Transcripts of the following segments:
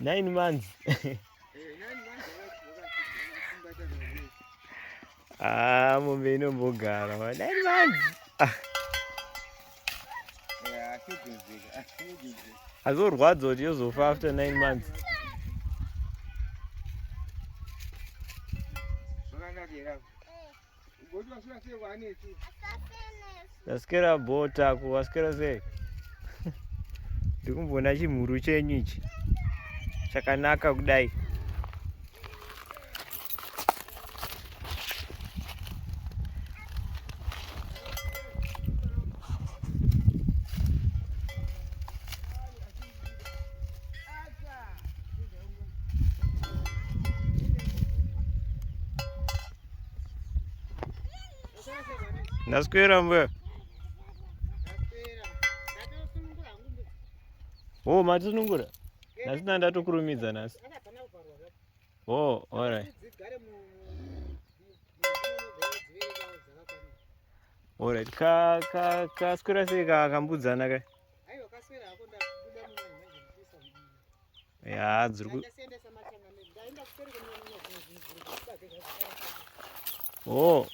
nine months ah mombe inombogara ma nine months azorwadza kuti yozofa after nine months Tasikera bota ku wasikera sei? Ndikumbona chimhuru chenyu ichi. Chakanaka kudai. Ndaswera mbuya. Oh, matisunungura. Nhasi nda ndatokurumidza nhasi. Oh, all right. All right. Ka ka ka swera sei ka kambudzana ka? ya dziri ku oh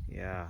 ya yeah.